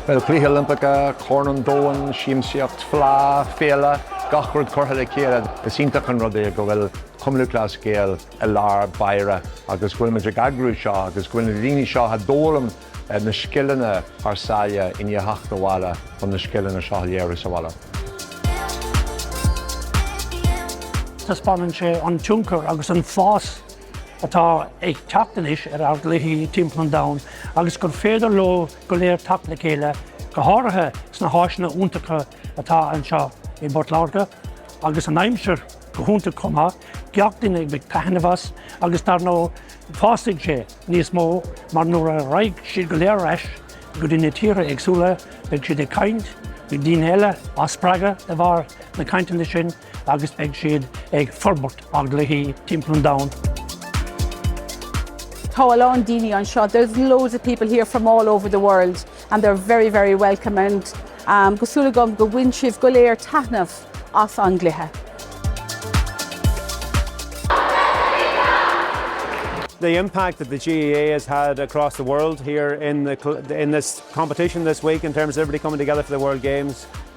Peil, Cluichí Oilimpeacha, Corn an Domhain, Siamsaíocht, Fleá, Féile, gach rud curtha le chéile. Is iontach an rud é go bhfuil Cumann Lúthchleas Gael i lár báire agus go bhfuil muid ag eagrú seo agus go bhfuil na daoine seo a d'fhoghlaim na scileanna thar sáile i ndiaidh theacht abhaile chun na scileanna seo a léiriú sa bhaile. Taispeánann sé an tionchar agus an fás atá ag teacht anois ar ár gcluichí timpeall an domhain agus gur féidir leo go léir teacht le chéile, go háirithe sna háiseanna iontacha atá anseo i bPort Láirge agus an aimsir go hiontach chomh maith, gach duine ag baint taitneamh as agus dar ndóigh fásfaidh sé níos mó mar nuair a raghaidh siad go léir ar ais go dtí na tíortha éagsúla beidh siad ag caint le daoine eile, á spreagadh de bharr na cainteanna sin. agus beidh siad ag forbairt ár gcluichí timpeall an domhain. Tá a lán daoine anseo, there's loads of people here from all over the world and they're very very welcome and um go súil agam go bhfuil sibh go léir taithneamh as an gcluiche. the impact that the GAA has had across the world here in, the, in this competition this week in terms of everybody coming together for the World Games.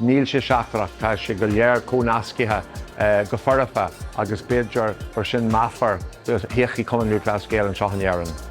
Níl sé seachtrach, tá sé go léir comhnasctha go foirfe agus b'fhéidir gur sin meafar do thodhchaí Chumann Lúthchleas Gael anseo in Éirinn.